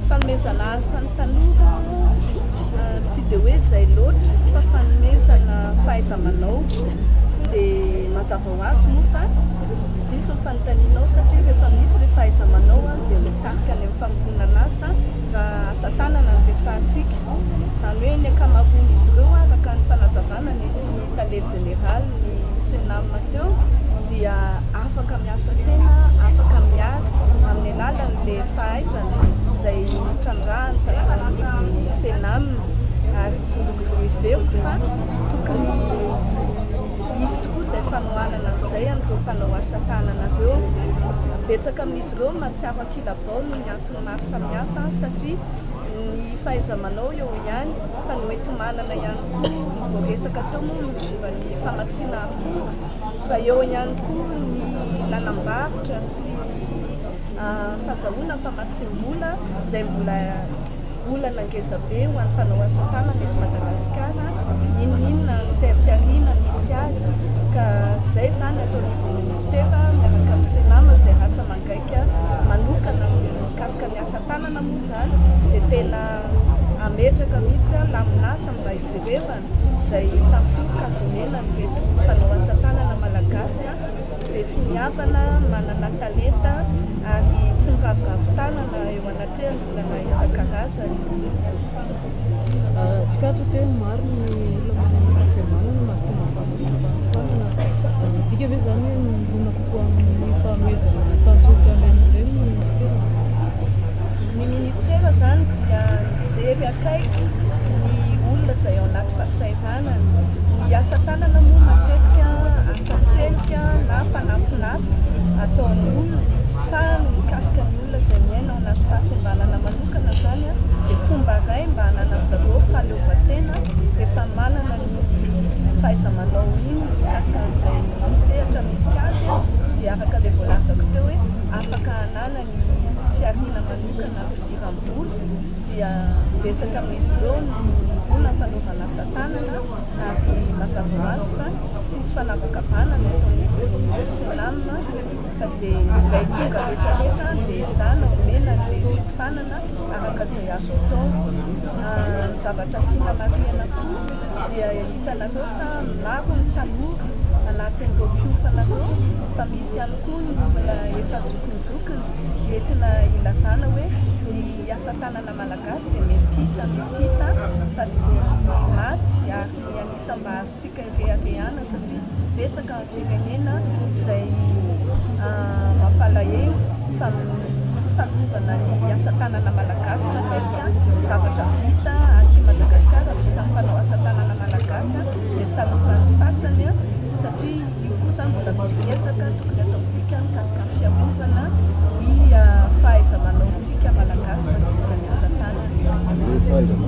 Fanomezana asa ny tanora tsy dia hoe izay loatra fa fanomezana fahaiza-manao dia mazava ho azy moa fa tsy diso ny fanontaniana ao satria rehefa misy ilay fahaiza-manao dia mitarika any amin'ny famoronana asa raha asa tanana no resahantsika. Izany hoe ny ankamaroan'izy ireo araka ny fanazavana ny ity tale. Jeneraly ny Cenam teo dia afaka miasa tena afaka miary amin'ny alalan'ilay fahaizana izay notrandrahany tato anivon'ny Cenam ary heveko fa tokony hisy tokoa izay fanohanana izay an'ireo mpanao asa tanana ireo. Betsaka amin'izy ireo no mahatsiaro ankilabao noho ny antony maro samihafa satria ny fahaiza-manao eo ihany fa ny hoenti-manana ihany koa. Koa vao resaka teo moa ny momba ny famatsiana akora fa eo ihany koa ny nanambarotra sy fazahoana famatsiam-bola izay mbola olana ngezabe ho an'ny mpanao asa tanana eto Madagasikara inoninona ny seha-pihariana misy azy ka izay izany ato anivon'ny minisitera miaraka amin'ny Cenam izay rantsa mangaika manokana mikasika ny asa tanana Marina moa izany dia tena hametraka mihitsy aho lamin'asa mba hijerevana izay tantsoroka zonenan'ireto mpanao asa tanana malagasy be finiavana, manana talenta ary tsy miraviravy tanana eo anatrehan'ny olana isan-karazany. Tsikaritra teo ny maro ny olona manana ny fahasembanana no mahazo tonga amin'ny fahafahanana. Midika ve izany hoe mirona kokoa amin'ny fanomezana tanjoty an'ireny ireny ny minisitera? Ny minisitera izany dia mijery akaiky ny olona izay ao anaty fahasahiranana. Ny asa tanana moa matetika asa an-tselika na fanampin'asa ataon'ny olona fa ny mikasika ny olona izay miaina ao anaty fahasembanana manokana manokana izany dia fomba iray mba hananan'ny zareo fahaleovantena rehefa manana ny fahaiza-manao iny mikasika an'izay sehatra misy azy dia araka ilay voalazako teo hoe afaka hanana ny fihariana manokana ny fidiram-bola dia betsaka amin'izy ireo no mirona ny fanaovana asa tanana ary mazava ho azy fa tsy hisy fanavakavahana ny ataon'ny ekonomia sy ny lamina Fa dia izay tonga retraretra dia izaho no omena ny fiofanana araka izay azo atao. Ny zavatra tiana marihina koa dia hitanareo fa maro ny tanora anatin'ireo mpiofana ireo fa misy ihany koa ny olona efa zokinjokiny. Mety na ilazana hoe ny asa tanana malagasy dia mempita mempita fa tsy maty ary ny an'isa mba azo Tsika ireharehana satria betsaka ny firenena izay mampalahelo fa salovana ny asa tanana malagasy matetika zavatra vita aty Madagasikara vita amin'ny mpanao asa tanana malagasy dia salovan'ny sasany satria io koa izany mbola misy ezaka tokony ataontsika mikasika ny fiarovana ny fahaiza-manaontsika malagasy manodidina ny asa tanana.